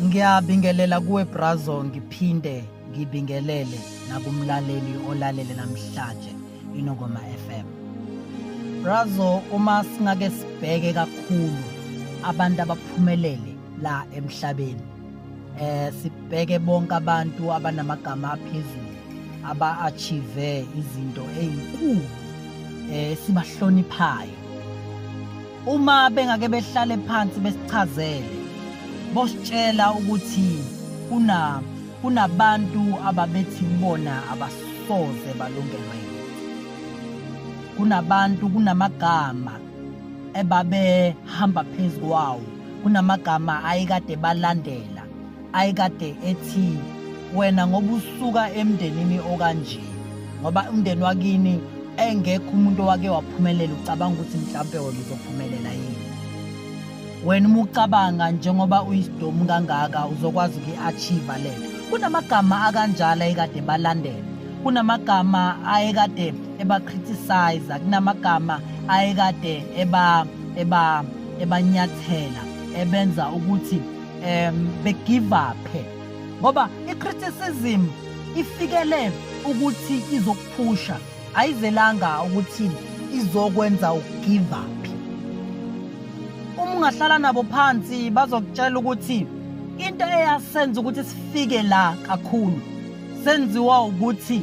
Ngiyabingelela kuwe Brazo ngiphinde ngibingelele nakumlaleli olalele namhlanje iNongoma FM. Brazo uma singake sibheke kakhulu abantu abaphumelele la emhlabeni eh sibheke bonke abantu abanamagama aphezulu aba-achieve izinto ezinkulu eh sibahloniphayo uma bengake behlale phansi besichazele bositshela ukuthi kuna kunabantu ababethi kubona abasoze balungelwe kunabantu kunamagama ebabehamba phezu kwawo kunamagama ayekade balandela ayekade ethi wena ngoba usuka emndenini okanje ngoba umndeni wakini engekho umuntu owake waphumelela ucabanga ukuthi mhlawumpe wena uzophumelela yini wena uma ucabanga njengoba uyisidomu kangaka uzokwazi ukuyi-achieve lento kunamagama akanjalo ayekade balandela kunamagama ayekade ebacriticize kunamagama ayekade eba eba ebanyathela ebenza ukuthi um begive up ngoba i-criticism ifikele ukuthi izokuphusha ayizelanga ukuthi izokwenza ugive up uma ungahlala nabo phansi bazokutshela ukuthi into eyasenza ukuthi sifike la kakhulu senziwa ukuthi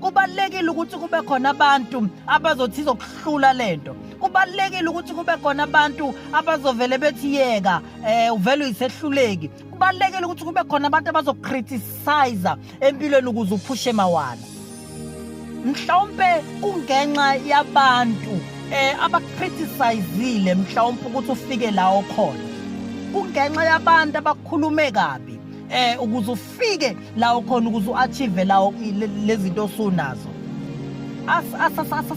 kubalekile ukuthi kube khona abantu abazothi izokuhlula lento kubalekile ukuthi kube khona abantu abazovele bethi yeka eh uvela uyisehluleki kubalekile ukuthi kube khona abantu abazokriticize empilweni ukuze uphushe mawana mhlawumbe kungenxa yabantu eh abakriticizile mhlawumbe ukuthi ufike la okhona kungenxa yabantu abakhulume kabi eh ukuze ufike la ukhona ukuze u-achieve lawo lezinto osunazo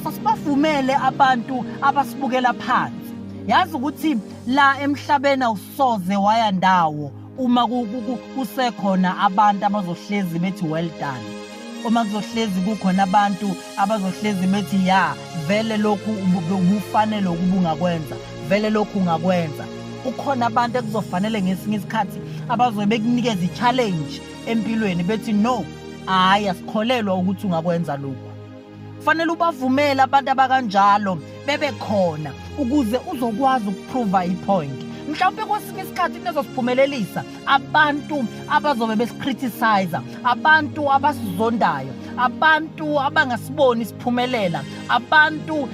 asibavumele abantu abasibukela phansi yazi ukuthi la emhlabeni awusoze waya ndawo uma kusekhona abantu abazohlezi bethi well done uma kuzohlezi kukhona abantu abazohlezi bethi ya vele lokhu ubufanele ukuba ungakwenza vele lokhu ungakwenza ukhona abantu ekuzofanele ngesinye isikhathi abazobe bekunikeza i-challenge empilweni bethi no hhayi asikholelwa ukuthi ungakwenza lokhu fanele ubavumele abantu abakanjalo bebe khona ukuze uzokwazi ukuprova ipoint mhlawumbe kwesinye isikhathi into ezosiphumelelisa abantu abazobe besikriticize abantu abasizondayo abantu abangasiboni siphumelela abantu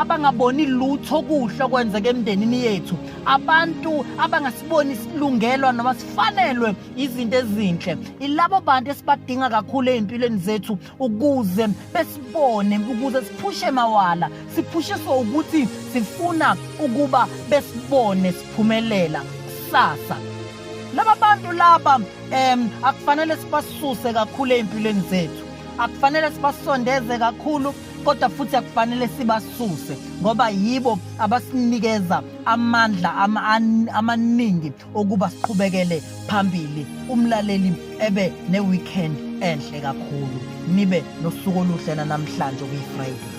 abangaboni lutho okuhle okwenzeka emndenini yethu abantu abangasiboni silungelwa noma sifanelwe izinto ezinhle ilabo bantu esibadinga kakhulu ezimpilweni zethu ukuze besibone ukuze siphushe mawala siphushiswa ukuthi sifuna ukuba besibone siphumelela kusasa laba bantu laba um akufanele sibasuse kakhulu ey'mpilweni zethu akufanele sibasondeze kakhulu kodwa futhi akufanele sibasuse ngoba yibo abasinikeza amandla amaningi okuba siqhubekele phambili umlaleli ebe ne-weekend enhle kakhulu nibe nosuku oluhle nanamhlanje okuyi-friday